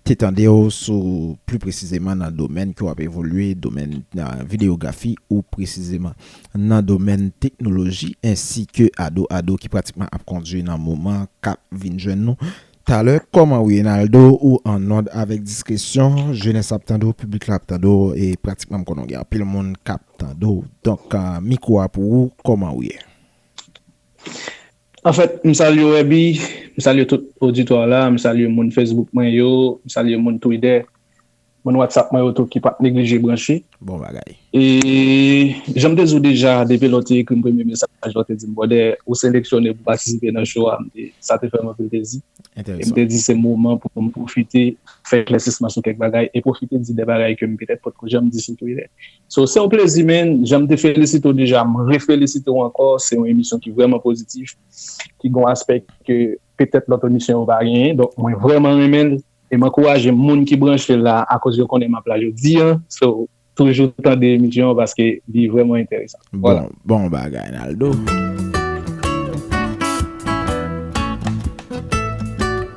Te tande w sou pli presizeman nan domèn ke w ap evolye, domèn videyografi ou presizeman nan domèn teknoloji ensi ke Ado Ado ki pratikman ap kondwi nan moman k ap vin jwenn nou talè. Kòman Wienaldo ou an òd avèk diskresyon, jenès ap tande w, piblik la ap tande w e pratikman m konnen w gen anpil moun k ap tande w donk mikwo a pou ou kòman ou ye? Anfèt, m salye w Èby, m salye tout oditwa la, m salye moun Facebook mwen yo, m salye moun Twidè, moun Whatsapp mwen yo tou ki pa t neglije branche. Bon bagay. E, jan m te di w deja, depi lè w te ekri m premye mesaj la, w te di m bròdè, ou seleksyone pou patisipe nan show a, m te, sa te fè m anpil plezi. Enteresan. E m te di se moman pou m pwofite fè eklèsisman sou kèk bagay e pwofite di de bagay ke m petèt potko janm di sou Twidè. So se yon plezi menn, janm te felisite w deja m refelisite w ankò, se yon emisyon ki vrèman pozitif, ki gen yon aspè ke petèt lòt emisyon yo pa genyen, donk mwen vrèman renmen l e m ankouraje moun ki branche la akoz yo konnen m ap la jodi an, so toujou tande emisyon an paske li vrèman enteresan. Bon, bon bagay Naldo.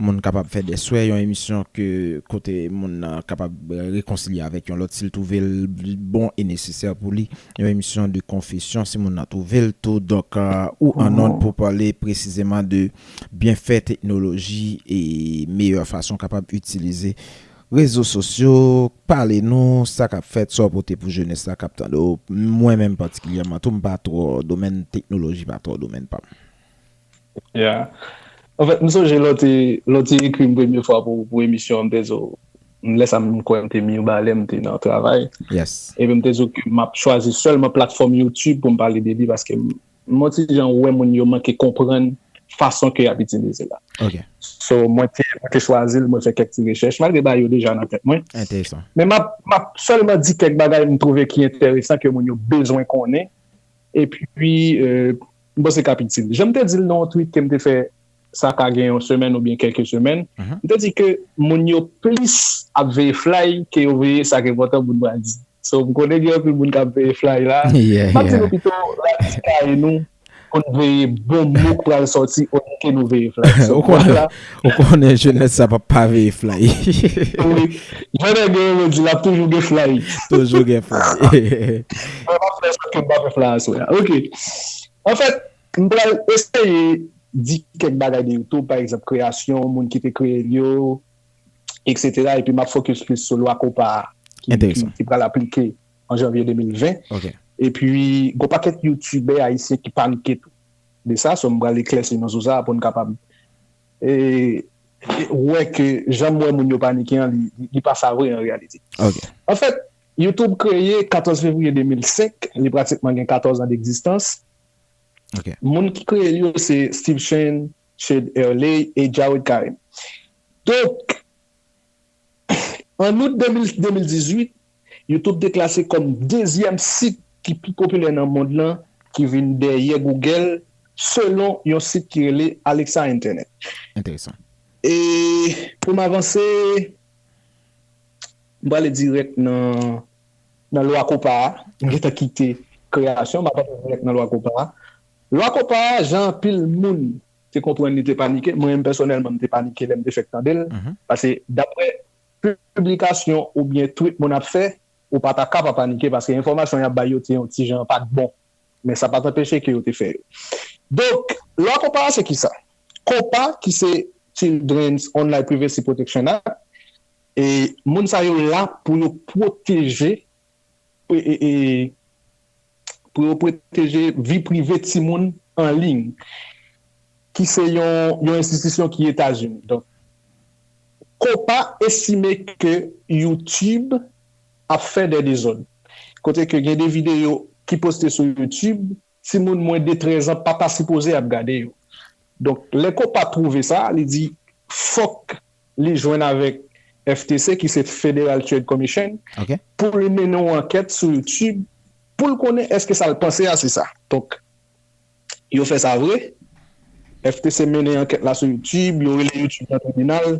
Moun kapab fè dè swè yon emisyon ke kote moun nan kapab rekonsilye avèk yon lòt si l twouve l bon e nesesè pou li. Yon emisyon de konfesyon si moun nan twouve l tou. Donk, ou an nòd pou pale presizeman de byenfè teknoloji e meyè fason w kapab itilize rezo sosyo. Pale nou sa k ap fèt, sa w pote pou jenès la k ap tande w. Mwen menm patikilyèman tou m pa twò domèn teknoloji pa twò domèn pa m. Ya Anfèt m sonje lè w te lè w te ekri m premye fwa pou pou emisyon an m te di w lè sa m kwè m te Mirbalè m te nan travay epi m te di w ke m ap chwazi sèlman platfòm youtube pou m pale de li paske m yon ti jan wè moun yo manke konprann fason ke y ap itilize la so mwen te mwen te chwazi l mwen fè kèk ti rechèch malgre bagay yo deja nan tèt mwen men m ap m ap sèlman di kèk bagay m twouve ki enteresan ke moun yo bezwen konnen epi M panse k ap itil. Jan m te di l nan yon tweet ke m te fè sa ka gen yon semèn oubyen kèlke semèn, m te di ke moun yo plis ap veye flay ke yo veye sa k enpòtan pou n pral di. So, m konnen gen anpil moun k ap veye flay la. M ap di nou pito rati kaye nou pou n veye bon mo k pral sòti olye ke nou veye flay. Ou konnen jenès sa pap pa veye flay. Wi Jan nèg yo renmen di la toujou gen flay. Toujou gen flay. Mwen pap fè sa kem pa fè flay aswè a ok anfèt m pral eseye di kèk bagay de youtube pa egzanp kreyasyon moun ki te kreyel yo etc epi map fokis plis sou lwa kopa a ki pral aplike an janvye 2020 epi gon pakèt youtubè ayisyen ki panike tou. De sa so m pral eklèsi nou sou sa pou n kapab wè ke jan m wè moun yo panike an li pa sa vre an reyalite. An fèt, YouTube kreye 14 fevriye 2005, li pratikman gen 14 an degzistans. Moun ki kreye l yo se Steve Chen, Chad Hurley e Jawed Karim. Donk, an out 2018, YouTube te klase kòm dezyèm sit ki pi popilè nan mond lan ki vin dèyè Google selon yon sit ki rele Alexa Internet. Enteresan. E pou m avanse, m prale dirèk nan Lwa Kopa a. M gen tan kite kreyasyon, m ap antre dirèk nan Lwa Kopa a. Lwa Kopa a, jan anpil moun te konprann li te panike, mwen menm pèsonèlman m te panike lè m te fèk tande l, pase daprè. piblikasyon oubyen twit moun ap fè, ou pa ta ka pa panike paske enfòmasyon y ap bay yo te yon ti jan pa t bon. Men sa pa t anpeche ke yo te fè yo. Donk, lwa Kopa a se ki sa? Kopa ki se Children's Online Privacy Protection Act, e moun sa yo la pou yo pwoteje pou yo pwoteje vi prive timoun an liy, ki se yon enstitisyon ki Etazini. Donk, Copa estime ke YouTube ap fè dè dezòd, kote ke gen de videyo ki poste sou YouTube, Timoun mwen de 13 an pa ta sipoze ap gade yo. Donk, lè Copa twouve sa, li di fòk li jwenn avèk FTC ki se Federal Trade Commission pou li mennen yon ankèt sou YouTube pou l konnen èske sa l panse a se sa. Donk, yo fè sa vre. FTC mennen ankèt la sou YouTube, yo rele YouTube nan tribinal.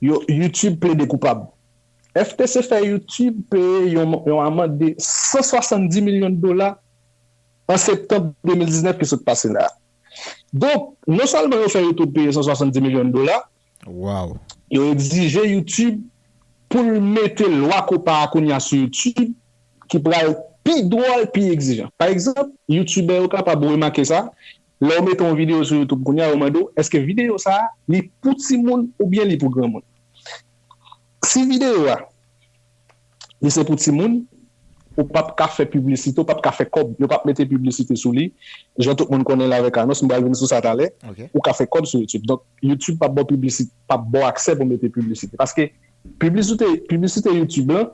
Yo, YouTube plede koupab. FTC fè YouTube peye yon amand de 170 milyon dola. an septanm 2019 ki sot pase la. Donk, non sèlman yo fè YouTube peye 170 milyon dola, yo egzije YouTube pou l mete lwa kopa a kounye a sou YouTube ki pral pi dwòl, pi egzijan. Pa egzanp, youtubè yo kapab remake sa, lè w mete yon videyo sou YouTube kounye a, yo mande w, èske videyo sa a, li pou timoun oubyen li pou granmoun? Si videyo a. Li se pou timoun, ou pap ka fè piblisite, ou pap ka fè kòb, yo pap mete piblisite sou li, jan tout moun konnen l avèk anons, m pral vin sou sa talè, ou ka fè kòb sou youtube, donk youtube pap ba w piblisite, pap ba w aksè pou mete piblisite, paske piblisite, piblisite youtube lan,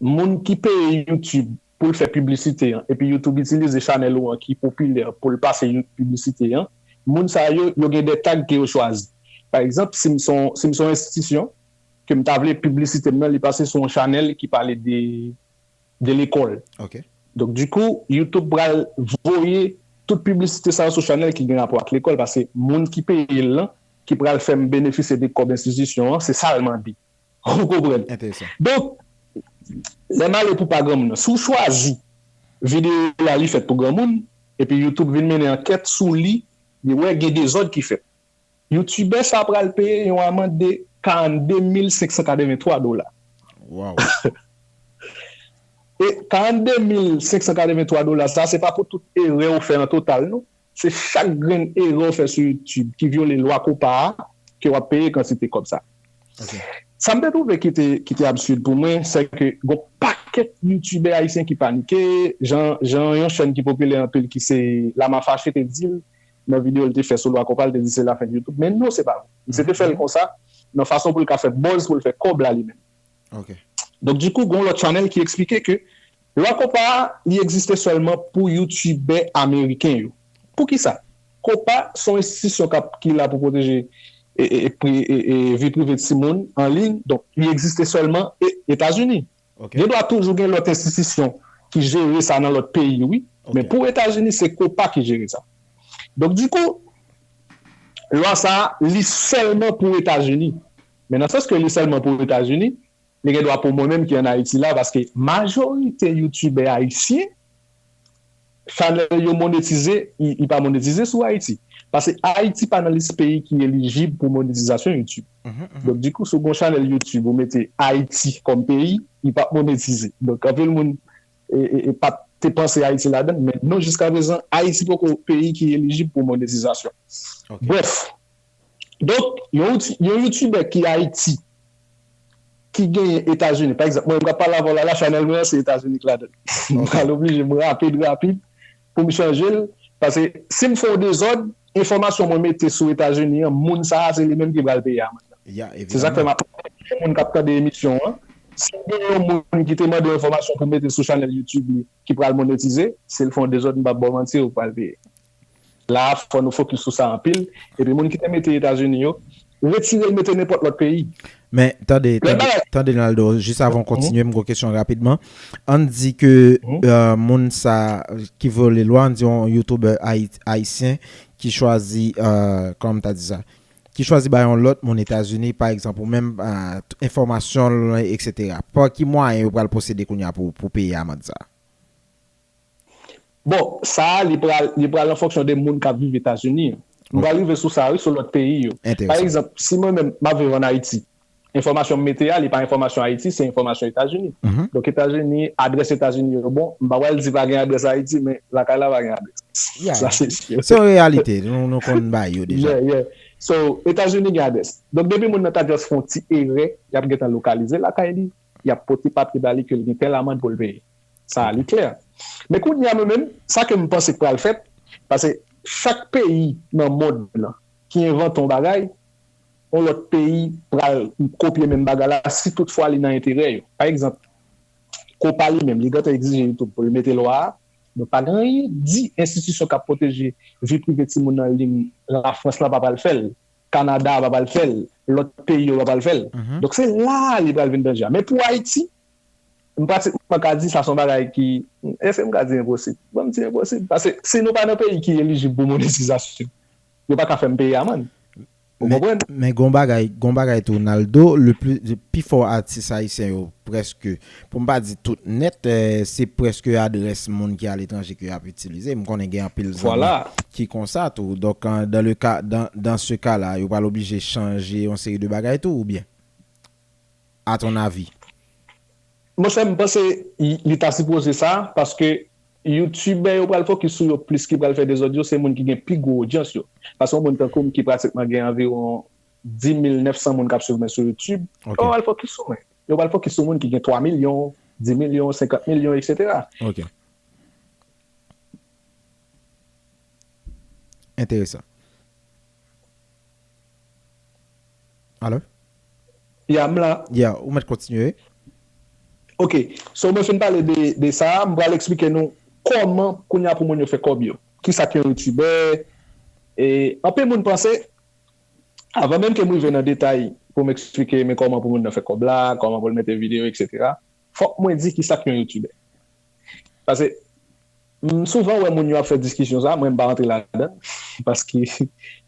moun ki peye youtube pou l fè piblisite an, epi youtube itilize chanèl ou an ki popilè pou l pase piblisite an, moun sa yo, yo gen de tag ke yo chwazi, pa egzanp, si m son, si m son enstitisyon, ke m ta vle piblisite m nan li pase sou yon chanèl ki pale de de lekòl. Donk di kou youtube pral voye tout piblisite sa yo sou chanèl ki gen rapò ak lekòl pase moun ki peye l lan ki pral fè m benefisye de kòb enstitisyon an se sa l mande. Ou konprann? Donk lè m ale pou pa granmoun nan si w chwazi videyo w la li fèt pou granmoun epi youtube vin mennen ankèt sou li li wè gen dezòd ki fèt. Youtubè sa pral peye yon amand de 42 mil 583 dola. Waww. E 42 mil 583 dola sa se pa pou tout erè ou fè an total non. Se chak grenn erè ou fè sou youtube ki vyole lwa kopa a ke wap peye kantite kòb sa. Ok. Sa m te twouve ki te ki te absurd pou mwen sè ke gon pakèt youtubè ayisyen ki panike jan jan yon chèn ki popilè anpil ki se Lama Fache te di l nan video li te fè sou lwa konpa li te di se la fen YouTube men non se pa vre misye te fèl konsa nan fason poul ka fè buzz poul fè kòb la li menm donk di kou gon lòt channel ki eksplike ke lwa konpa a li egziste sèlman pou youtubè ameriken yo pou kisa konpa son enstitisyon kap ki la pou pwoteje e e e vi prive ti moun an liy donk li egziste sèlman e etazini. Gen dwa toujou gen lòt enstitisyon ki jere sa nan lòt peyi wi, men pou Etazini se copa ki jere sa. Donk dikou lwa sa a li sèlman pou Etazini, men nan sans ke li sèlman pou Etazini, li gen dwa pou mwen menm ki an Ayiti la paske majorite youtubè ayisyen, Chanel yo monetize, li pa monetize sou Ayiti. Pase Ayiti pa nan lis peyi ki elijib pou monetizasyon Youtube. Donk di kou si w gen yon chanel Youtube ou mete Ayiti kòm peyi, li pap monetize. Donk anpil moun pat te panse Ayiti ladan l men non jiskaprezan Ayiti poko peyi ki elijib pou monetizasyon. Brèf. Donk, yon youtubè ki Ayiti, ki genyen Etazini, pa egzanp, mwen menm k ap pale avè w la la, chanèl mwen an se Etazini k ladan l. M pral oblije m rapid rapid pou m chanje l, pase si m fè yon dezòd, enfòmasyon mwen mete sou Etazini an, moun sa a se li menm ki pral peye amann nan. Se sa k fè m ap mande tout moun k ap tande emisyon an, si gen yon moun ki te mande yon enfòmasyon pou mete sou chanèl youtube li ki pral monetize, si l fè yon dezòd m p ap ba w manti, ou pral peye. La a fò nou fokis sou sa anpil, epi moun ki te mete Etazini yo, retire l mete nenpòt lòt peyi. Men, tande, Lòt tande, bagay. tande Naldo, jis avan w kontinye, m gon kesyon rapidman. Ann di ke moun sa ki vyole lwa, ann di yon youtuber Ayit, Ayisyen ki chwazi, kòman m ta di sa? Ki chwazi bay yon lòt moun Etazini, pa egzanp ou menm, enfòmasyon l, eksetera. Pa ki mwayen yo pral pwosede kounye a pou pou peye amand sa a? Bon, sa a li pral, li pral an fonksyon de moun k ap viv Etazini yo. M pral rive sou sa a wi, sou lòt peyi yo. Pa egzanp, si mwen menm m ap viv ann Ayiti, enfòmasyon m mete a li pa enfòmasyon Ayiti, se enfòmasyon Etazini. Donk Etazini, adrès Etazini yo bon, m pa pral di pa gen adrès Ayiti men lakay la pa gen adrès. Sa se si. Se yon reyalite nou konn bay yo deja. Yeah, yeah. So, Etazini gen adrès. Donk depi moun nan ta just fè yon ti erè, y ap gentan lokalize lakay li, y ap pote papye ba li ke l gen tèl amand pou l peye. Sa a li klè. Men kounye a mwen menm, sa ke m panse k pral fèt, pase chak peyi nan mond lan ki envante yon bagay, yon lòt peyi pral kopye menm bagay la si tout fwa li nan enterè yo. Pa egzanp, Copa li menm, li gentan egzije YouTube pou l mete lwa a, men pa gen anyen di enstitisyon k ap pwoteje vi prive timoun an liy Lafrans lan pa pral fè l. Canada pa pral fèl lòt peyi yo pa pral fèl donk se la li pral vin danje a men pou Ayiti m pratikman ka di sa son bagay ki èske m ka di enposib bon m di enposib paske si nou pa nan peyi ki elijib pou monetizasyon yo pa ka fè m peye amann ou konprann. Men gon bagay gon bagay tou Naldo le pli pifò atis ayisyen yo prèske. Pou m pa di tout nèt, se prèske adrès moun ki aletranje ke y ap itilize. M konnen gen anpil zanmi ki konsa tou. Donk, dans le cas, dans ce cas là, yo pral oblije chanje yon seri de bagay tou oubyen? A ton avis? Mon chè, m panse li ta sipoze sa, paske youtubè yo pral fokis sou yo plis ki pral fè dezòd yo se moun ki gen pi gwo odyans yo. Paske yon moun tankou m ki pratikman gen anviwon 10 mil 900 moun k ap swiv mwen sou youtube, yo pral fokis sou mwen. Yo pral fokis sou moun ki gen 3 milyon, 10 milyon, 50 milyon eksetera. Ok. Enteresan. Alo? Ya, m la. Ya, ou mèt kontinye. Ok. So mwen fin pale de sa a, m pral eksplike nou kòman kounye a pou moun yo fè kòb yo. Kisa ki yon youtubè? E anpil moun panse. Avan menm ke m rive nan detay pou m eksplike men kòman pou moun nan fè kòb la, kòman pou l mete videyo eksetera, fòk mwen di kisa k yon youtubè. Pase m souvan wè moun yo ap fè diskisyon sa, mwen m pa rantre ladan l paske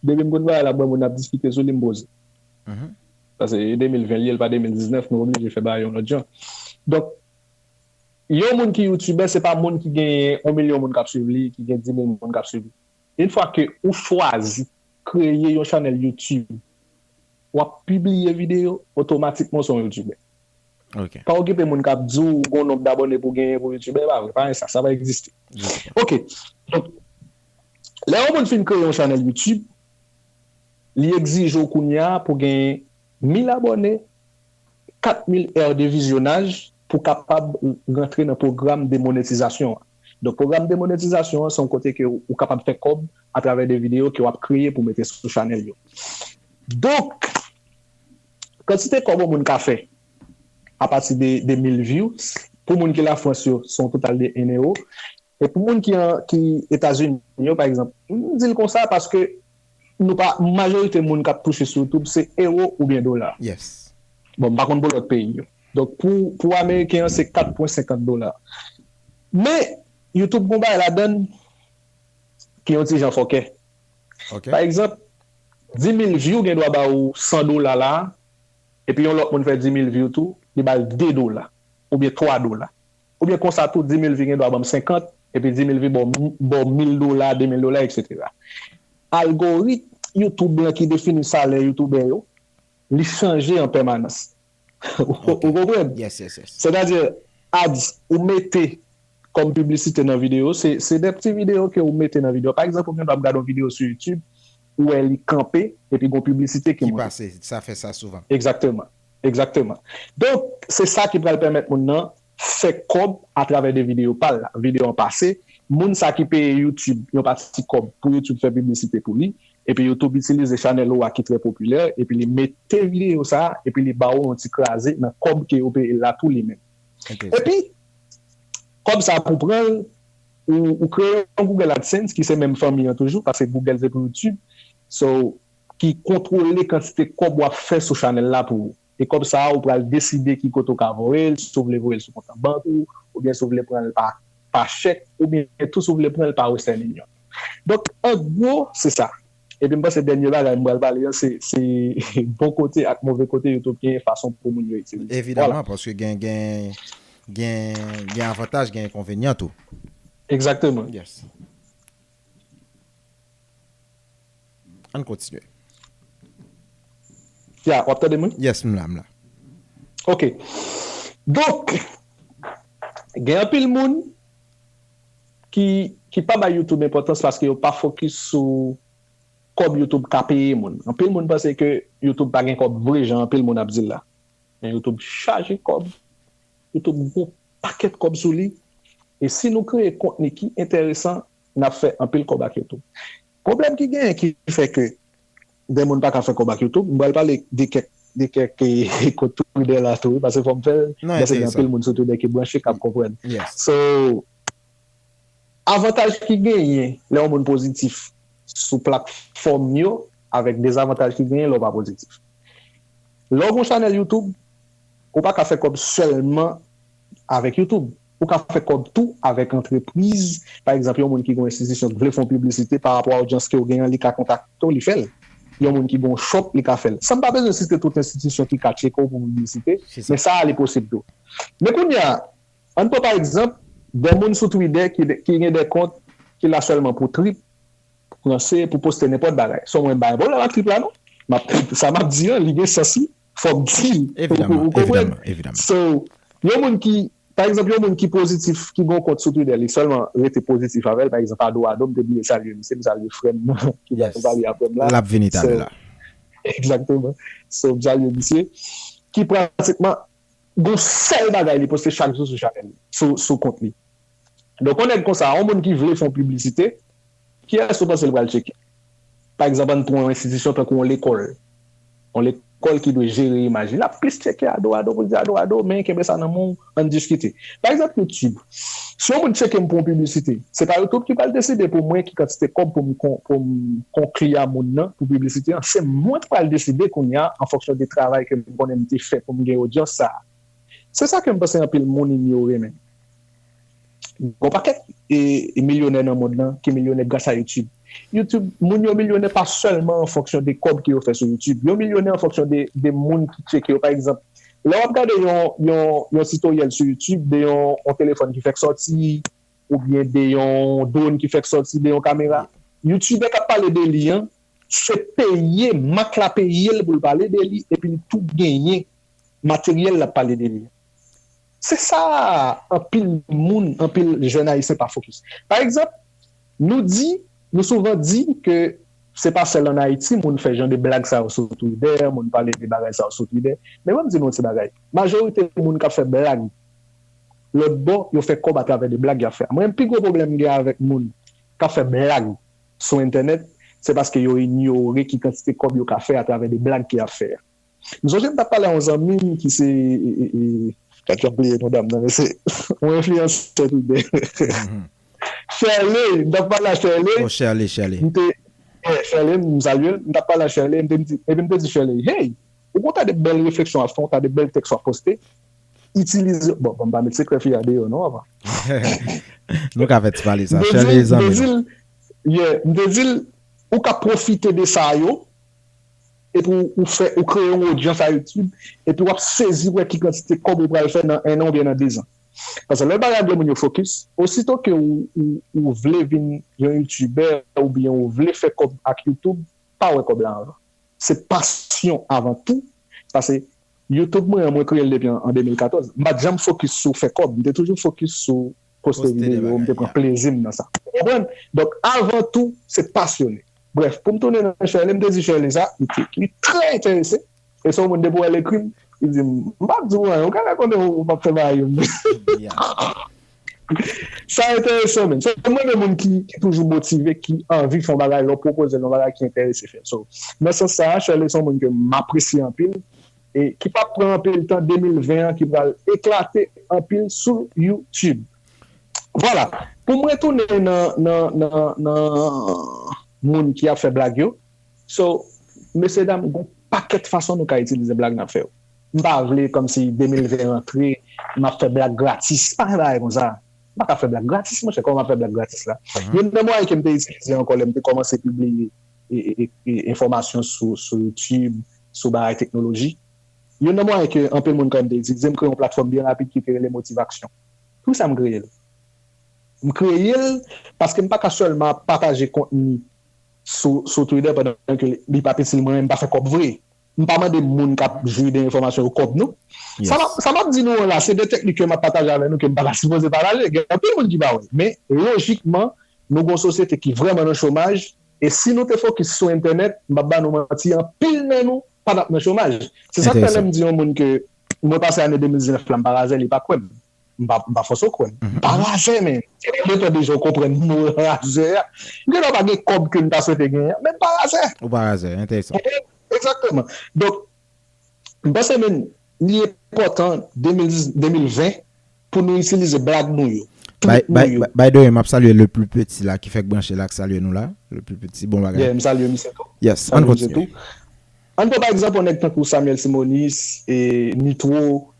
depi m konn bagay la m wè moun ap diskite sou li m poze. Pase e 2020 l ye l pa 2019 nou oblije fè bagay yon lòt jan. Donk yon moun ki youtubè se pa moun ki gen yon milyon moun k ap swiv li, ki gen 10 mil moun k ap swiv li. Une fwa ke ou chwazi kreye yon chanèl youtube wap pibliye video otomatikman ou se yon youtubè ok pa okipe moun kap diw ou gon nonb dabòne pou genyen pou youtubè epa vre pa gen sa sa pa egziste ok donk lè yon moun fin kreye yon chanèl youtube li egzije w kounya pou genyen 1000 abòne 4000 èr de vizyonaj pou kapab rantre nan pwogram de monetizasyon an. Donk pwogram demonetizasyon an se yon kote ke ou kapab fè kòb atravè de videyo ke wap kreye pou mete sou chanèl yo. Donk kantite kòb yon moun ka fè apati de 1000 views pou moun ki lafrans yo se yon total de 1 ewo e pou moun ki etazini yo pa egzanp m dil konsa paske nou pa majorite moun kap touche sou youtube se ewo oubyen dola bon m pa konn pou lòt peyi yo. Donk pou pou ameriken an se 4 pwen 50 dola. Men YouTube gon bagay ladann ki yon ti jan fòkè. Ok. Pa egzanp, 10.000 view gen dwa ba ou 100 dola la a, epi yon lòt moun fè 10.000 view tou, li ba l 2 dola, oubyen 3 dola. Oubyen konsa tou 10.000 view gen dwa ban m 50, epi 10.000 view ba w ba w 1.000 dola, 2.000 dola eksetera. Algoritm YouTube lan ki defini salè youtubè yo, li chanje an pèmanans. Ou konprann? Sètadi, ads ou mete kòm piblisite nan videyo, se de ti videyo ke ou mete nan videyo. Pa egzanp, ou gen dwa ap gade yon videyo sou YouTube, ou wè li kanpe, epi gen yon piblisite ki monte. Ki pase, sa fè sa souvan. Egzakteman. Egzakteman. Donk, se sa ki pral pèmèt moun nan fè kòb atravè 2 videyo pal la, videyo an pase moun sa ki peye youtube yon pati kòb pou youtube fè piblisite pou li epi youtube itilize chanèl ou a ki trè popilè epi li mete videyo sa epi li ba ou yon ti kraze nan kòb ke yo peyel la tou li menm epi kòb sa pou pranl ou kreye yon google adsense ki se menm fanmi an toujou paske google se pou youtube so ki kontwole kantite kòb wap fè sou chanèl la pou ou. E kòb sa a ou pral deside ki kote ou ka voye l, si w vle voye l sou kont an bank ou, oubyen si w vle pran l pa pa chèk, oubyen tou si w vle pran l pa western union. Donk an gwo se sa. Epi m panse dènye bagay m pral pale an se se bon kote ak move kote yo tou genyen fason pou moun yo itilize l. Vwala. Evidaman paske gen gen gen gen avantaj gen enkonvenyan tou. Egzakteman. Yes. Ann kontinye. Ya, w ap tande m wi? Yes, m la, m la. Ok. Donk, gen anpil moun ki ki pa bay YouTube enpòtans paske yo pa fokis sou kòb YouTube ka peye moun. Anpil moun panse ke YouTube pa gen kòb vre jan anpil moun ap di l la. Men YouTube chaje kòb. Youtube gen yon pakèt kòb sou li e si nou kreye kontni ki enteresan n ap fè anpil kòb ak Youtube. Pwoblèm ki genyen ki fè ke dè moun pa ka fè kòb ak Youtube, m pral pale de kèk de kèk kont Twitter la tou wi paske fò m fè l paske gen anpil moun sou Twitter ki branche k ap konprann. So avantaj ki genyen lè yon moun pozitif sou platfòm yo avèk dezavantaj ki genyen lè w pa pozitif. Lè w gen yon chanèl Youtube, Ou pa ka fè kòb sèlman avèk YouTube. Ou ka fè kòb tou avèk antrepriz. Pa egzanp, yon moun ki gen yon enstitisyon ki vle fè yon piblisite pa rapò a odyans ke ou gen an, li ka kontakte ou, li fè l. Yon moun ki gen yon shop, li ka fè l. San m pa bezwen site tout enstitisyon ki ka tcheke w pou piblisite, men sa a li posib tou. Men kounye a, an n pran pa egzanp, dè moun sou Twitter ki ki gen dè kont ki la sèlman pou trip, pou ranse, pou poste nenpòt bagay. Son mwen bay, bon, la trip la non. M ap, sa m ap di an, li gen sans li. fòk di. Evidaman, evidaman, evidaman. So, yon moun ki, pa egzanp, yon moun ki pozitif, ki gen yon kont sou Twitter, li sèlman rete pozitif avè l, pa egzanp, Ado Ado, m te bliye salye misye, m salye frè m nan ki pral pale aprè m la. L ap vini talè la. Egzakteman. So, m salye misye, ki pratikman gen yon sèl bagay li poste chak jou sou chanèl li, sou kont li. Donk yon nèg konsa, yon moun ki vle fè yon piblisite, kiyès ou panse l pral tcheke? Pa egzanp, ann pran yon enstitisyon tankou yon lekòl. Yon lekòl ki dwe jere imaj li, l ap plis tcheke ado ado pou l di ado ado, men kenbe sa nan men w, ann diskite. Pa egzanp YouTube, si yon moun tcheke m pou yon piblisite, se pa YouTube ki pral deside pou mwen ki kantite kòb pou m konkli a moun nan pou piblisite an, se mwen k pral deside kounye a an fonksyon de travay ke m konnen m te fè pou m gen odyans sa a. Se sa kem panse anpil mounn yo renmen. Gon pakèt milyonè nan mond lan ki milyonè gras a youtube. Youtube mounn yo milyonè pa sèlman an fonksyon de kòb ke yo fè sou youtube. Yo milyonè an fonksyon de mounn ki tcheke yo. Pa egzanp, lè wap gade yon titoryèl sou youtube de yon telefòn ki fèk sòti oubyen de yon drone ki fèk sòti, de yon kamera, youtubè kap pale de li an Se peye mak la peye l pou l pale de li epi l tou genyen materyèl l ap pale de li a. Se sa anpil moun, anpil jèn ayisyen pa fokis. Pa egzanp, nou di, nou souvan di ke se pa sèl an Ayiti moun fè jan de blag sa yo sou Twitè, moun pale de bagay sa yo sou Twitè. Men ban m di nou yon ti bagay, majorite moun k ap fè blag lòtbò, yo fè kòb atravè de blag y ap fè a. Mwen menm pi gwo pwoblèm m gen avèk moun k ap fè blag, sou entènèt, se paske yo inyore ki kantite kòb yo ka fè atravè de blag ke yap fè a. M sonje m tap pale a yon zanmi m ki se. Sa ki anplwaye non dam nan men se yon enfliyansè tout bon. Sherley, m tap pale a Sherley. Oh Sherley, Sherley. M te, yeah, Sherley, m salye l. M tap pale a Sherley, m te di, epi m te di Sherley, hey, ou gen yon ta de bèl refleksyon wap fè, yon ta de bèl tèks wap poste, Itilize, bon, banm pa met sekrè fi a deyò non avan. Nou ka fè ti pale sa, Shirley zanmi nou. M te dil, m te dil, yeah, m te dil, ou ka pwofite de sa yo, epi w ou fè, ou kreye yon odyans a YouTube, epi wap sezi wè ki kantite kòb ou pral fè nan 1 an oubyen nan 2 zan. Paske lè bagay gen moun yo fokis, osito ke ou ou ou vle vin yon youtubè oubyen ou vle fè kòb ak YouTube, pa wè kòb la avan. Se pasyon avan tou, sa se Youtube mwen an mwen kreyel depi an 2014 m pat janm fokis sou fè kòb m te toujou fokis sou poste videyo m te pran plezim nan sa ou konprann donk avan tou se pasyone brèf poum tounen nan Sherley m te di Sherley sa li trè enterese e se yon moun depi wèl ekrim li dim m pap diw anyen ou ka rakonte ou pap fè bagay yo m. Sa enteresan menn. Mwen renmen moun ki toujou motive, ki anvi fè yon bagay, lè w pwopoze l yon bagay ki enterese fè l. So, nan sans sa a, Sherley se yon moun ke m apresye anpil e ki p ap pran anpil tan 2020 an ki pral eklate anpil sou YouTube. Vwala, pou m retounen nan nan nan nan moun ki ap fè blag yo. So, mesyedam, gen yon pakèt fason nou ka itilize blag n ap fè yo. M pa vle kòmsi 2020 rantre m ap fè blag gratis. Pa gen bagay konsa. M pa ka fè blag gratis monchè. Kòman m ap fè blag gratis la? Youn nan mwayen ke m te itilize ankò lè m te kòmanse pibliye enfòmasyon sou YouTube, sou bagay teknoloji, youn nan mwayen ke anpil moun kwè m te itilize, m kreye yon platfòm byen rapid ki te rele Motivaksyon. Pou kisa m kreye l? M kreye l paske m pa ka sèlman ap pataje kontni sou Twitter pandan ke li p ap itil mwen, m pa fè kòb vre. M pa mande moun k ap jwi de enfòmasyon yo kòb non. Sa m ap di nou an la, se de teknik ke m ap pataje avè nou ke m pa ta sipoze pataje. Gen anpil moun ki pa wè. Men, lojikman, nou gen yon sosyete ki vrèman nan chomaj e si nou te fokis sou entènèt, m p ap ba nou manti, anpil nan nou pa t ap nan chomaj. Se sa k fè lè m di yon moun ke mwen pase ane 2019 la m parazè, li pa kwè m. M pa m pa fòse w kwè m. M pa razè men se yon montè de jan w konprann m mwen razè a. M gen dwa pa gen kòb ke m ta swete genyen an men m pa razè. Ou pa razè, enteresan. Konprann? Egzakteman. Donk, m panse menm li enpòtan 2020 pou nou itilize blag nou yo, trik nou yo. By the way, m ap salye le plus petit la ki fèk branche la k salye nou la. Le plus petit, bon bagay. Yeah, m salye misye tou. Yes, ann kontinye. Ann pran pa egzanp yon nèg tankou Samuel Simonis, Nitro,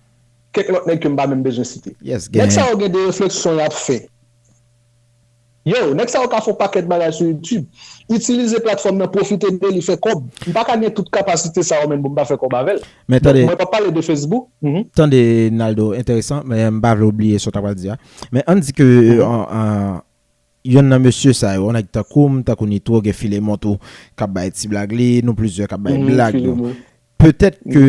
kèk lòt nèg ke m pa menm bezwen site. Nèg sa yo gen de refleksyon y ap fè. Yow, nèg sa yo ka fè yon pakèt bagay sou YouTube, itilize platfòm nan, pwofite de li fè kòb. M pa ka gen tout kapasite sa yo menn pou m pa fè kòb avè l. Donk, mwen p ap pale de Facebook. Tande, Naldo, enteresan, men m pa vle w bliye sa w ta pral di a. Men, an n di ke Yonn nan mesye sa yo, nèg tankou m, tankou Nitro, gen Filemon tou k ap bay ti blag li, nou plizyè k ap bay blag nou. Petèt ke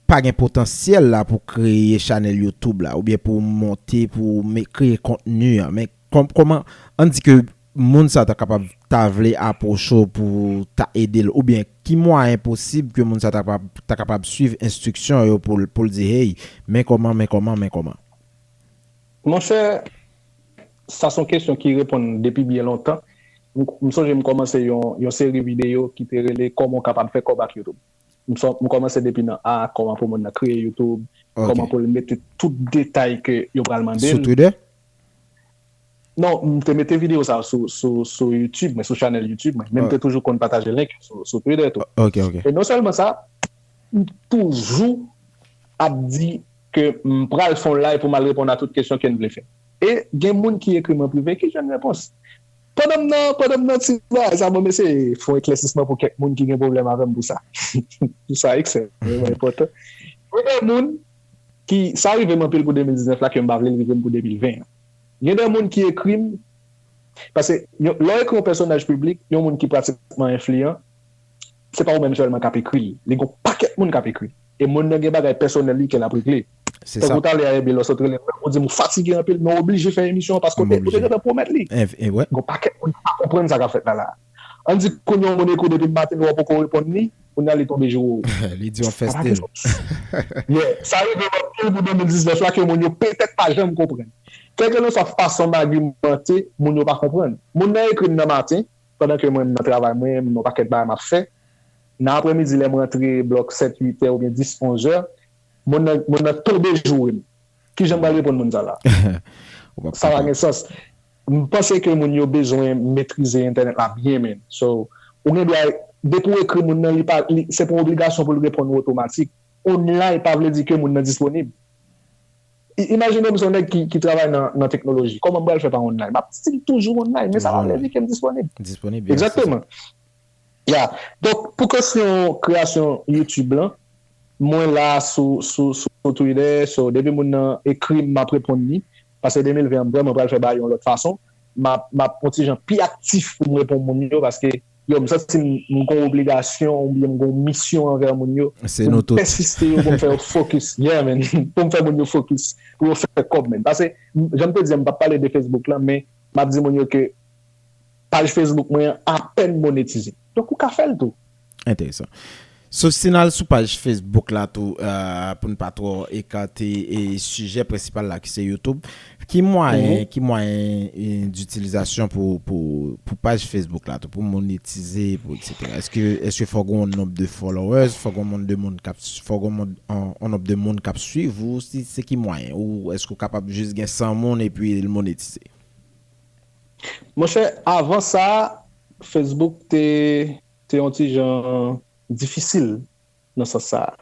pa gen potansyèl la pou kreye chanèl Youtube la oubyen pou monte, pou kreye kontni an. Men, kòman, an n di ke moun sa ta kapab ta vle apwoche w pou w ta ede l oubyen ki mwayen posib ke moun sa ta kapab suiv enstriksyon yo pou l di hey, men kòman, men kòman, men kòman? Monchè, Sa son kesyon ki reponn depi byen lontan. M sonje m kòmanse yon seri videyo ki te rele kòman w kapab fè kòb ak YouTube. M kòmanse depi nan a, kòman pou moun nan kreye YouTube, kòman pou l mete tout detay ke yo pral mande l. Sou Twitter? Non, m te mete videyo sa yo sou YouTube mwen, sou chanèl YouTube mwen. Men m te toujou konn pataje link yo sou Twitter tou. E non sèlman sa, m toujou ap di ke m pral fè yon live pou m al reponn a tout kesyon ke n vle fè. E gen moun ki ekri m an prive ki jwenn repons. Pandan m nan pandan m nan ti bagay sa mwen mesi fon eklèsisman pou kèk moun ki gen pwoblèm avè m pou sa. Pou sa ekstrèmman enpòtan. Gen de moun ki sa rive m anpil pou 2019 la ke m pa vle l rive m pou 2020 an. Gen de moun ki ekri m paske lè w ekri yon pèsonaj piblik, yon moun ki pratikman enfliyan, se pa ou menm sèlman k ap ekri l, li gen yon pakèt moun k ap ekri l. E moun nan gen bagay pèsonèl li ke l ap regle. Se sa. Tankou talè a Herby Loss ou te rele m, ou di m ou fatige anpil men ou oblije fè emisyon an paske ou te gentan pwomèt li. Enf, wè. Gen yon pakèt moun ki pa konprann sa k ap fèt la la a. An n di konn yon moun ekri w depi maten ou poko reponn li, kounya li tonbe joure w. Li di w fè stil. Sa pa gen sans. Yeah. Sa rive m anpil pou 2019 la ke moun yo petèt pa janm konprann. Kèlkelanswa fason m agiman te, moun yo pa konprann. Moun nan ekri m nan maten, Pandan ke mwen m nan travay mwen, m gen yon pakèt bagay m ap fè. Nan aprèmidi lè m rantre blòk sèt, uit è oubyen dis, onz è, monn nan, monn nan tonbe joure m. Kijan m pral reponn moun sa la? Ou pap Sa pa kapab. gen sans. M panse ke moun yo bezwen metrize entènèt la byen menn. So, ou gen dwa, depi w ekri moun nan, li pa, li, se pa yon obligasyon pou l reponn ou otomatik. Online pa vle di ke moun nan disponib. Imajine m se yon nèg ki travay nan teknoloji. Kòman m pral fè pa online? M ap stil toujou online, men sa pa vle di ke m disponib. Disponib, ya, se sa. Egzakteman. Ya. Donk, pou kesyon kreyasyon YouTube lan, mwen la sou Twitter, so depi moun nan ekri m, m ap reponn li. Pase 2020 an m vrèman pral fè bagay yo yon lòt fason. M ap yon ti jan pi aktif pou m reponn moun yo paske. Yo, m santi m m gon obligasyon oubyen m gon misyon anvè moun yo Se pou nou m tout. pèsiste yo, pou m fè yo fokis. Yeah man, pou m fè moun yo fokis, pou yo fè kòb man. Pase, jan m te di an m pap pale de Facebook lan men m ap di moun yo ke paj Facebook mwen an apèn monetize. Donk ou ka fè l tou. Enteresan. Sof si n al sou paj Facebook la tou pou n pa twò ekate sijè prensipal la ki se YouTube. Ki mwayen ki mwayen ditilizasyon pou paj Facebook la tou pou monetize pou eksetera? Èske fò gen yon nonb de followers? Fò gen yon nonb de moun k ap swiv ou? Se ki mwayen? Ou èske ou kapab jis gen 100 moun epi l monetize? Monchè avan sa Facebook te. te yon ti jan difisil nan sans sa a.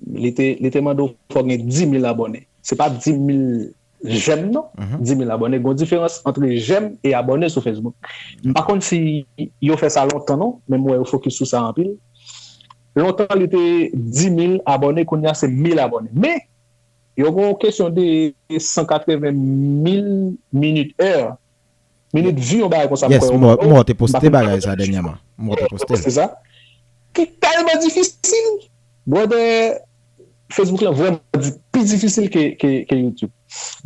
Li te li te mande w fò w gen 10.000 abòne. Se pa 10.000 jèm non, 10.000 abòne. Gon diferans antre jèm e abòne sou Facebook. M pa konn si yo fè sa lontan non, men m wè yo fokis sou sa anpil. Lontan li te 10.000 abòne, kounye a se 1.000 abòne. Men, yo gen yon kesyon de 180.000 minit, è. Minit view yon bagay konsa m kwè yo mwen Yes, m wè w te poste bagay sa dènyèman. M wè w te poste l. Ki tèlman difisil. Brother, Facebook lan vrèman pi difisil ke YouTube.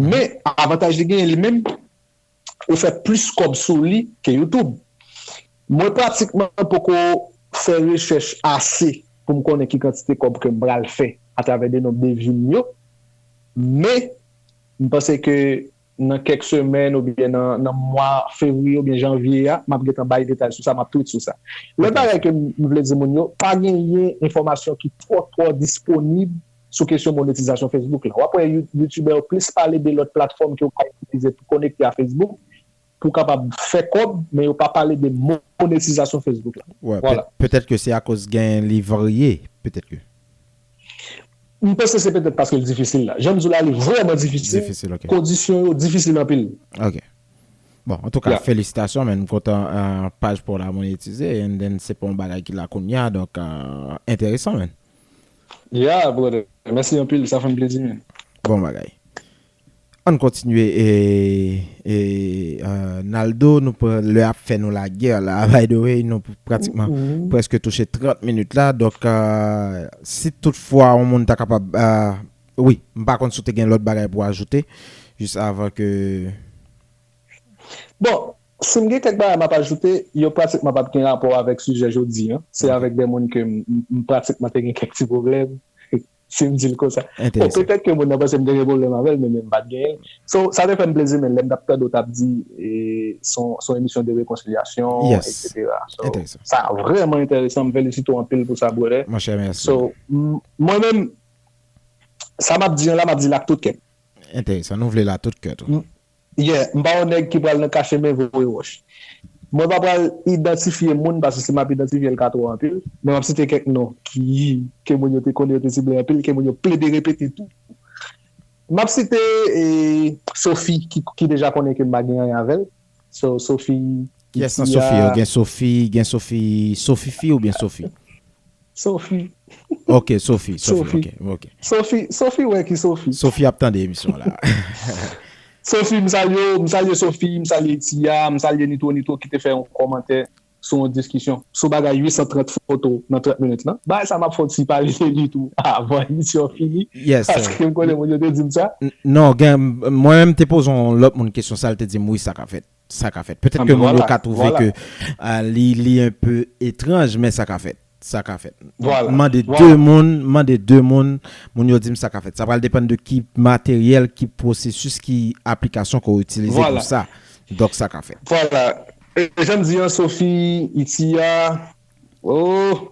Men, avantaj li genyen li menm, ou fè plis kòb sou li ke YouTube. Mwen pratikman poko fè rechèch ase pou m konnen ki kantite kòb ke m pral fè atravè de nonb de view m yo. Men, m panse ke. Nan kèk semèn oubyen nan mwa fevriye oubyen janvye a, m ap gentan bay detay sou sa, m ap tweet sou sa. Lòt bagay ke m vle di moun yo, pa genyen enfòmasyon ki twò twò disponib sou kesyon monetizasyon Facebook la. W ap wè youtubè yo plis pale de lòt platfòm ke ou ka itilize pou konekte a Facebook, pou w kapab fè kòb, men yo pa pale de monetizasyon Facebook la. Wè, petèt ke se akoz gen li varye, petèt ke. M panse se petèt paske l difisil la. Jan m di w la li vrèman difisil, kondisyon yo difisil anpil. Ok. Bon, antouka felisitasyon men m kontan paj pa w la monetize and then se pa yon bagay ki la kounya donk enteresan men. Yeah brother, mèsi anpil sa fè m plezi men. Bon bagay. Ann kontinye Naldo nou pran lè ap fè nou la guerre la by the way nou pratikman preske touche 30 minit la donk si tout fwa yon moun ta kapab wi m pa konn si w te gen lòt bagay pou ajoute jis avan ke. Bon si m gen kèk bagay m ap ajoute yo pratikman p ap gen rapò avèk sijè jodi an se avèk de moun ke m pratikman te gen kèk ti pwoblèm si m di l konsa. Bon, petèt ke moun nan panse m te gen pwoblèm avè l, men men m pa t genyen l. So, sa te fè m plezi men lè m t ap tande w t ap di se yon emisyon de rekonsilyasyon eksetera. So, sa vrèman enteresan, m felisite w anpil pou sa brother. Monchè mèsi. So, mwen menm sa m ap di an la m ap di l ak tout kè m. Enteresan, nou vle l ak tout kè tou. Yeah, m pa yon nèg ki pral nan kache men voye wòch. Mwen pa pral idantifye moun paske si m ap idantifye l ka twò anpil, men m ap site kèk non ki ke moun yo te konnen yo te sible anpil ke moun yo plede repete tou. M ap site Sofi ki ki deja konnen ke m pa gen anyen avè l. So Sofi Kiyès nan Sofi yo? Gen Sofi, gen Sofi Sofifi oubyen Sofi? Sophie. Ok Sophie Sophie ok. Sophie Sophie wè ki Sophie. Sophie ap tande emisyon an la. Sophie m salye w m salye Sophie m salye Tia m salye Nitro Nitro ki te fè yon kòmantè sou yon diskisyon sou bagay 830 foto nan 30 minit lan. Bagay sa m ap fè yon ti pale de li tou avan emisyon an fini paske m konnen moun yo te di m sa. Non gen mwen menm m te poze yon lòt moun kesyon sa l te di m wi sa ka fèt. Sa ka fèt. Petèt ke moun yo ka twouve ke li un peu etranj, men sa ka fèt. Sa ka fèt. M mande 2 moun, m mande 2 moun, moun yo di m sa ka fèt. Sa pral depann de ki materyèl, ki pwosesis, ki aplikasyon ke w itilize pou sa. Donk sa ka fèt. Vwala. E jan m di an Sophie, Itia, oh!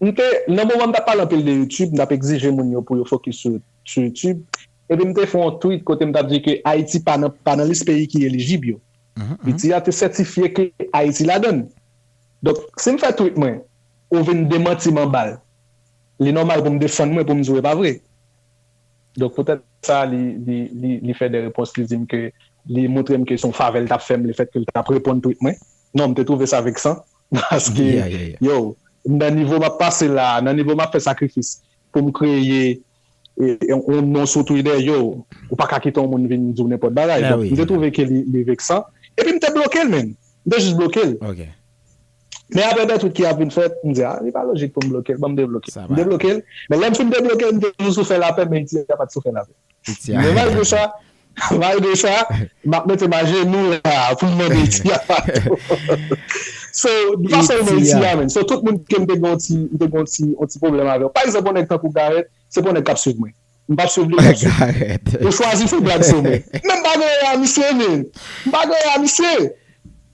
M te, nan moman m t ap pale anpil de YouTube, m t ap egzije moun yo pou yo fokis sou sou YouTube, epi m te fè yon tweet kote m t ap di ke Ayiti pa nan pa nan lis peyi ki elijib yo. Piti a te sètifye ke Ayiti ladan l. Donk, si m fè tweet mwen, ou vin demanti m anba l, li nòmal pou m defann mwen pou m di w e pa vre. Donk, poutèt sa, li li li li fè de repons, li di m ke li montre m ke se yon favè l t ap fè m lefètke l t ap reponn tweet mwen. Non, m te twouve sa veksan. Paske yow nan nivo map pase la, nan nivo map fè sakrifis poum kreye yon non sou twitter yow ou paka kite yon moun vin diw nenpòt bagay donk mte twouve ke li veksan epi mte blokel menn mte jis blokel men aprè dè twit ki ap vin fèt mdi a li pa lojik poum blokel banm deblokel mte blokel men lèm fin deblokel mte toujou sou fè lapè men iti a pat sou fè lapè men malgre sa Malgre sa, m ap mete m ajenou la a pou m mande Iti a padon. So, m pa sèl nan Iti a menm. So, tout moun ke m te gen yon ti pwoblèm avè yo. Pa egzanp, yon nèg tankou Garèt, se pa yon nèg k ap swiv mwen. M pa p swiv li, li pa p swiv mwen. Ou chwazi fè blag sou mwen. Men m pa gen ran a misye menm. M pa gen ran a misye.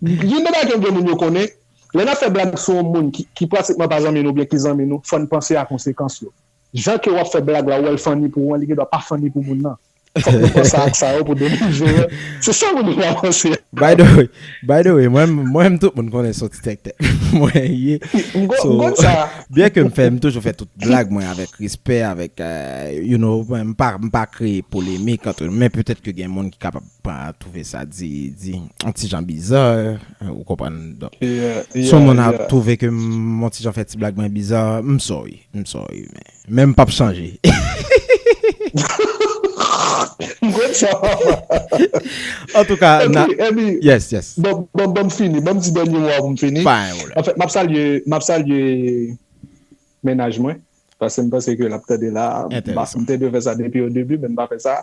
Youn nan bagay ke m vle moun yo konnen, lè n ap fè blag sou yon moun ki pratikman pa zanmi nou oubyen ki zanmi nou, fò n panse a konsekans yo. Jan ke w ap fè blag la, ou wè l fanni pou ou an, li gen dwa pa fanni pou moun nan. Fòk nou panse ak sa yo pou 2020 se sa moun yo pa panse. By the way, by the way, mwen menm tout moun konnen son ti tèktè mwen ye. So, byen ke m fè, m toujou fè tout blag mwen avèk respè, avèk, you know, m pa, m pa kreye polemik antre nou, men petèt ke gen moun ki kapab pa twouve sa di, di, on ti jan biza, ou konprann, donk, si on moun ap twouve ke m on ti jan fè ti blag mwen biza, m sorry, m sorry, men. Menm pap chanje. M konn sa papa. Antouka na yes yes. Epi banm fini banm di dènye mo a poum fini. Pa gen pwoblèm. Anfèt map salye map salye mennaj mwen paske m panse ke lap tande la. Entèresan. M te dwe fè sa depi o debi men m pa fè sa.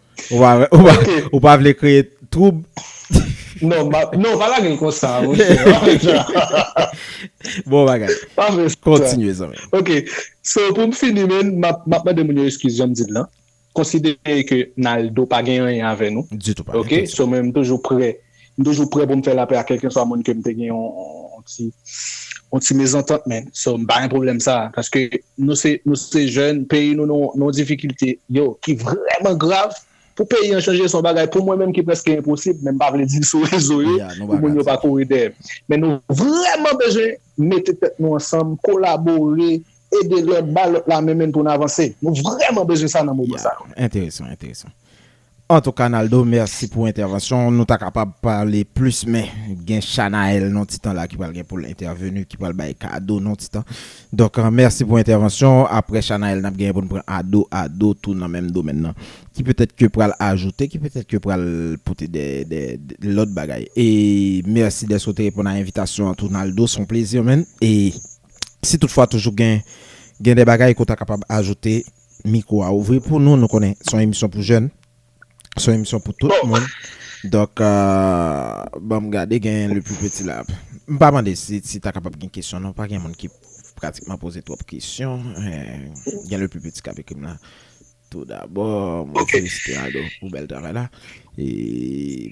Ou pa vle kreye troub? Non, non, pa lage l konsa, monchè. Pa fè sa. Bon bagay. Pa fè sa. Kontinye, zanmi. Ok. So, pou m fini, men, m ap mande moun yo eskiz, jan m di l lan. Konsidere ke Naldo pa gen anyen avè nou. Ditou pa gen anyen. Ok? So, mwen m toujou prè M toujou prè pou m fè lapè ak kèlkeswa moun ke m te gen yon ti yon ti mezantant men so m pa gen pwoblèm sa a paske nou se nou se jèn peyi nou nan yon difikilte yo ki vrèman grav pou peyi an chanje se yon bagay pou mwen menm ki prèske enposib men m pa vle di l sou rezo yo pou moun yo pa kouri dèyè m men nou vrèman bezwen mete tèt nou ansanm kolabore ede lòt ba lòt la men men pou n avanse nou vrèman bezwen sa nan moman sa yo. Enteresan enteresan Antouka Naldo mèsi pou entèvansyon w nou ta kapab pale plis men gen Shanaël non titan la ki pral gen pou l entèveni ki pral bay kado non titan donk mèsi pou entèvansyon w aprè Shanaël n ap genyen pou n pran Ado Ado tou nan menm domèn nan ki petèt ke pral ajoute ki petèt ke pral pote de de lòt bagay e mèsi dèske w te reponn a envitasyon an tou Naldo s on plezi man e si tout fwa toujou gen gen de bagay ke w ta kapab ajoute. Mikwo a ouvri pou nou, nou konnen se yon emisyon pou jèn, se yon emisyon pou tout moun. Donk, ban m gade gen le plus petit la. M pa mande si ta kapab gen kesyon non, pa gen moun ki pratikman poze twòp kesyon. Gen le plus petit k ap ekri m la. Tou dabò, mwen felisite Aldo pou bèl travay la. E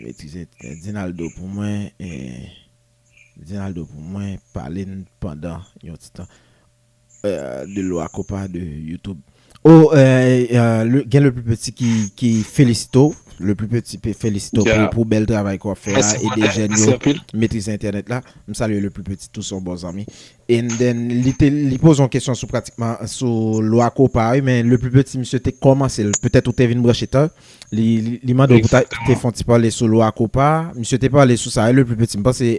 metrize Dinaldo pou mwen. Dinaldo pou mwen, pale n pandan yon ti tan. de lwa kopa de youtube. Oh gen le plus petit ki felisite w, le plus petit felisite w pou bèl travay ke wap fè a, ede jèn yo metrize entènèt la, m salye le plus petit tou se yon bon zanmi, and then li poze yon kesyon sou pratikman sou lwa kopa wi, men le plus petit misye te kòmanse l, petèt ou te vin branche ta, li mande w pou ta te fon ti pale sou lwa kopa, misye te pale sou sa wi le plus petit, m panse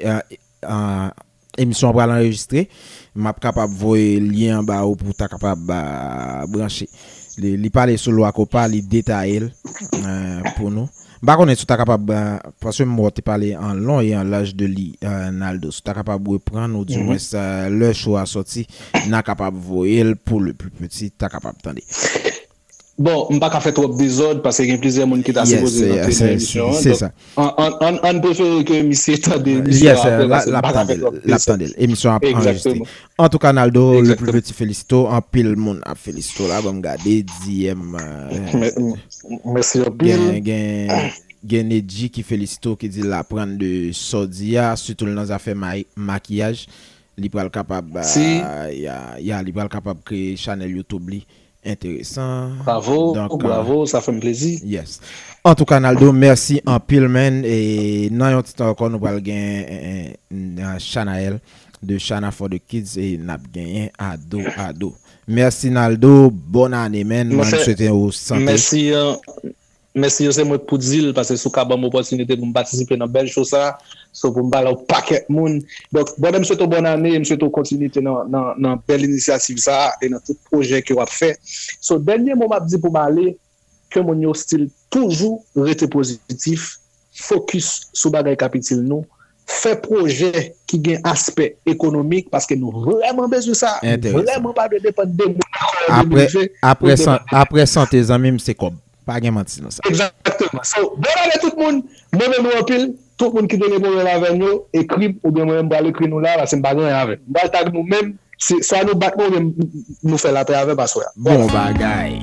Emisyon an pral anrejistre, m ap kapab voye lyen an ba ou pou w ta kapab branche. Li pale sou lwa kopa, li detaye l pou nou. M pa konnen si w ta kapab, paske m wè w te pale an lon e an laj de li Naldo, si w ta kapab repran nou di mwens lè show a sòti, n a kapab voye l pou le pli piti ta kapab tande. Bon, m pa ka fè twòp dezòd paske gen plizyè moun ki ta sipoze rantre nan emisyon an. Donk, ann prefere ke misye tande emisyon an aprè paske m pa ka fè twòp dezòd. L ap tande l. Emisyon an ap anrejistre. Antouka Naldo, le plus petit felisite w. Anpil moun ap felisite w la. Ban m gade. DM. Mèsi anpil. Gen Nedji ki felisite w ki di l aprann de sa w di a, sitou nan zafè makiyaj. Li pral kapab kreye chanèl YouTube li. Enteresan Bravo donk bravo sa fèm plezi. Yes antouka Naldo merci anpil man e nan yon ti tan ankò nou pral gen Shanaël de Shana for the kids e nap genyen Ado Ado merci Naldo bòn ane man mwen swete ou sante. Mèsi. Mèsi yo se mwen k pou dil pase sou ka banm opòtinite pou m patisipe nan bèl show sa so pou m pale ak pakèt moun donk brother m swete w bòn ane e m swete w kontinite nan nan bèl inisyativ sa e nan tout pwojè ke wap fè so dènye mo map di pou m ale ke moun yo stil toujou rete pozitif fokis sou bagay k ap itil nou, fè pwojè ki gen aspè ekonomik paske nou vrèman bezwen sa, nou vrèman pa vle depann de moun nan kò an 2020. Aprè sante zanmi m se kòb, pa gen manti nan sa. Egzakteman. So, bon ane tout moun, m renmen nou anpil, tout moun ki te gen pwoblèm avè m yo, ekri m oubyen mwen menm m pral ekri nou la paske m pa gen anyen avè m. M pral tag nou men se swa nou bat mwen oubyen nou fè lapè avè m aswè a. Bon bagay!